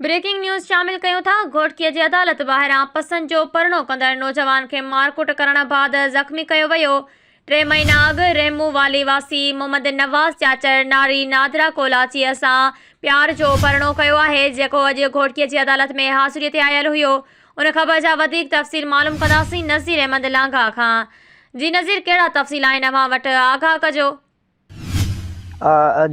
Breaking news شامل ڪيون ٿا گهوٽڪيء جي عدالت ٻاهران پسند جو پرڻو ڪندڙ نوجوان کي مارڪوٽ ڪرڻ بعد زخمي ڪيو ويو ٽي مهينا اڳ رحمو والي واسي محمد نواز چاچڙ ناري نادرا ڪولاچيء سان پيار جو پرڻو ڪيو آهي جيڪو اڄ گهوٽڪيء جي عدالت ۾ حاضريء تي آيل هيو ان خبر جا وڌيڪ تفصيل معلوم ڪنداسين نذير احمد لانگاهه کان جي نذير ڪهڙا تفصيل آهن اوهان وٽ آگاهه ڪجو.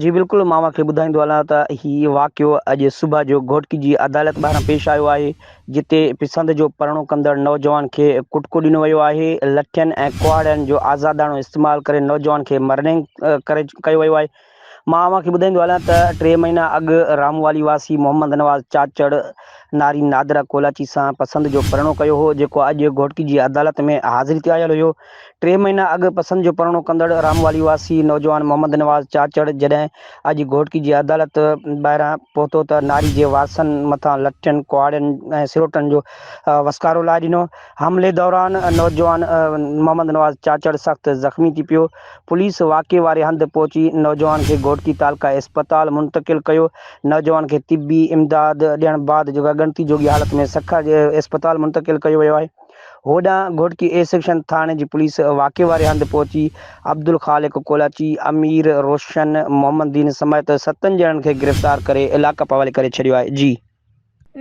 جي بلڪل مان اوهان کي ٻڌائيندو هلان ته هي واقعو اڄ صبح جو گهوٽڪي جي عدالت ٻاهران پيش آيو آهي جتي پسند جو پرڻو ڪندڙ نوجوان کي ڪٽڪو ڏنو ويو آهي لٺين ۽ ڪهاڙن جو آزاداڻو استعمال ڪري نوجوان کي مرنينگ ڪري ڪيو ويو آهي مان اوهان کي ٻڌائيندو هلان ته ٽي مهينا اڳ راموالي واسي محمد نواز چاچڙ نارين نادرا ڪولاچي سان پسند جو پرڻو ڪيو هو جيڪو اڄ گهوٽڪي جي عدالت ۾ حاضري تي آيل هيو ٽي مهينا اڳ پسند جو پرڻو ڪندڙ راموالي واسي نوجوان محمد نواز چاچڙ جڏهن اڄ گهوٽڪي جي عدالت ٻاهران پهتو ته ناري جي وارثن مٿان لٺين، ڪهاڙين ۽ سروٽن جو وسڪارو لائي ڏنو. حملي دوران نوجوان محمد نواز چاچڙ سخت زخمي ٿي پيو. پوليس واقعي واري هنڌ پهچي نوجوان کي گهوٽڪي تعلقه اسپتال منتقل ڪيو. نوجوان کي طبي امداد ڏيڻ بعد ڳڻتي جوڳي حالت ۾ سکر جي اسپتال منتقل ڪيو ويو آهي. هوڏانهن گهوٽڪي اي سيڪشن ٿاڻي جي پوليس واقعي واري هنڌ پهچي عبدالخالق ڪولاچي، امير روشن، محمد دين سميت ستن ڄڻن کي گرفتار ڪري علائقي پي حوالي ڪري ڇڏيو آهي. جي.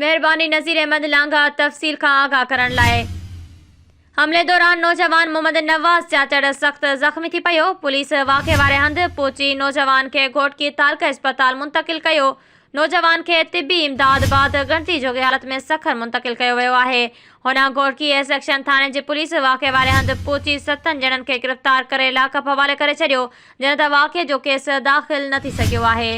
مهرباني نذير احمد لانگاهه تفصيل کان آگاهه ڪرڻ لاء. حملي دوران نوجوان محمد نواز چاچڙ سخت زخمي ٿي پيو، پوليس واقعي واري هنڌ پهچي نوجوان کي گهوٽڪي تعلقه اسپتال منتقل ڪيو، نوجوان کي طبي امداد بعد ڳڻتي جوڳي حالت ۾ سکر منتقل ڪيو ويو آهي. هوڏانهن گهوڙڪي ايس ايڪشن ٿاڻي جي پوليس واقعي واري هنڌ پهچي ستن ڄڻن کي گرفتار ڪري لاڪ اپ حوالي ڪري ڇڏيو، جڏهن ته واقعي جو ڪيس داخل نه ٿي سگهيو آهي.